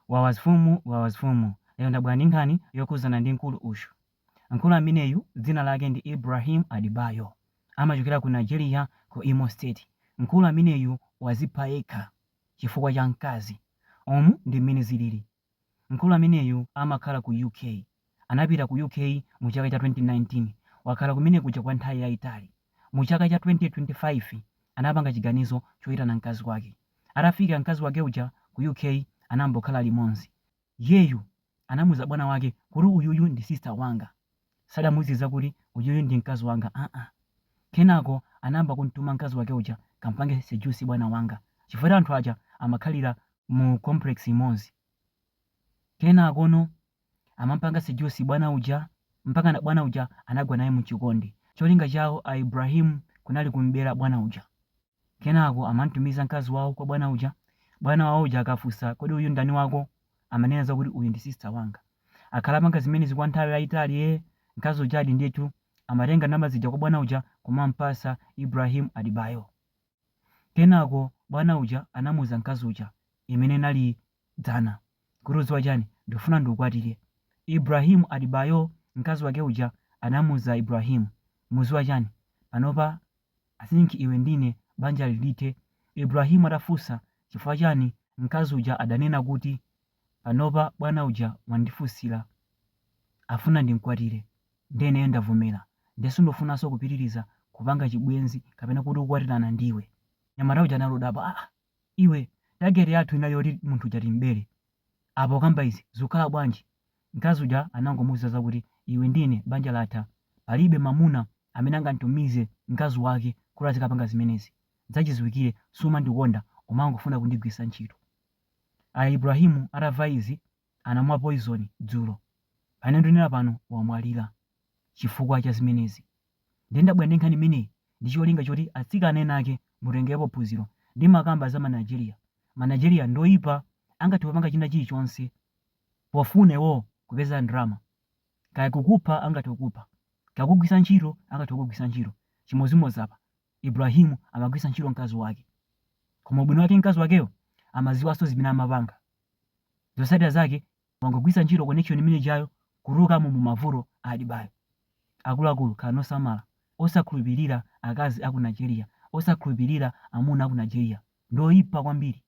Wawa zfumu wawa zfumu lero ndabwera ndi nkhani yokhuzana ndi mkulu uyu mkulu ameneyu dzina lake ndi Ibrahim Adebayo amachokera ku Nigeria ku Imo state mkulu ameneyu wazipha yekha chifukwa cha mkazi umu ndi mmene zilili mkulu ameneyu amakhala ku UK anapita ku UK mu chaka cha 2019 wakhala kumene kuja kwa nthawi yaitali mu chaka cha 2025 anapanga chiganizo choitana mkazi wake Atafika mkazi wake uja ku UK anayamba kukhala limodzi. Iyeyu anamuuza bwana wake kuti uyuyu ndi sister wanga. Sadamuuze zakuti uyuyu ndi mkazi wanga aa. Kenako anayamba kumtuma mkazi wake uja kampange seduce bwana wanga chifukwa anthu aja amakhalira mu complex imodzi. Kenakono amampanga seduce bwana uja mpakana bwana uja anagwa naye mu chikondi. Cholinga chawo a Ibrahim kunali kum'bera bwana uja. Kenako amam'tumiza mkazi wawo kwa bwana uja. Bwana wawo uja akafunsa, Kodi uyu ndani wako? amanena zakuti, Uyu ndi sista wanga. Akhala apanga zimenezi kwa nthawi yaitali, ee, mkazi ujadi ndithu amatenga ndalama zija kwa bwana uja kumam'patsa Ibrahim Adebayo. Kenako bwana uja anamuuza mkazi uja imene inali dzana. Kuti udziwa chani? Ndikufuna ndikukwatire. Ibrahim Adebayo mkazi wake uja anamuza Ibrahim, udziwa chani? Panopa I think iwe ndi ine banjali lithe. Ibrahim atafunsa chifukwa chani mkazi uja adanena kuti panopa bwana uja wandifunsira afuna ndimkwatire nde ineyo ndavomela nde sindifunanso kupitiliza kupanga chibwenzi kapena kuti kukwatilana ndiwe. Mnyamata uja anali odabwa aah! Iwe target yathu inali yoti munthu uja timbere. Apa ukamba izi zikukhala bwanji? Mkazi uja anangomuuza zakuti iwe ndi ine banja latha. Palibe mamuna amene angamtumize mkazi wake kuti azikapanga zimenezi. Zachiziwikire sumandikonda umangofuna kundigwiritsa ntchito. A Ibrahim atamva izi anamwa poizoni dzulo. Pamene ndinena pano wamwalira chifukwa cha zimenezi. Ndiye ndabwera ndi nkhani imeneyi ndi cholinga choti atsikana enaake mutengerepo phunziro. Ndimakamba za ma Nigeria. Ma Nigeria ndi oipa angathe kupanga china chilichonse pofuna iwowo kupeza ndalama. Kaya kukupha angathe kukupha, kaya kukugwiritsa ntchito angathe kukugwiritsa ntchito. Chimodzimodzi apa. Ibrahim amagwiritsa ntchito mkazi wake koma ubwino wake mkazi wakeyo amaziwanso zimene amapanga zosatira zake wangogwiritsa ntchito connection imene ijayo kutulukamo mumavuto adibayo akuluakulu khalani osamala osakhulupilira akazi aku Nigeria osakhulupilira amuna aku Nigeria ndioipa kwambiri.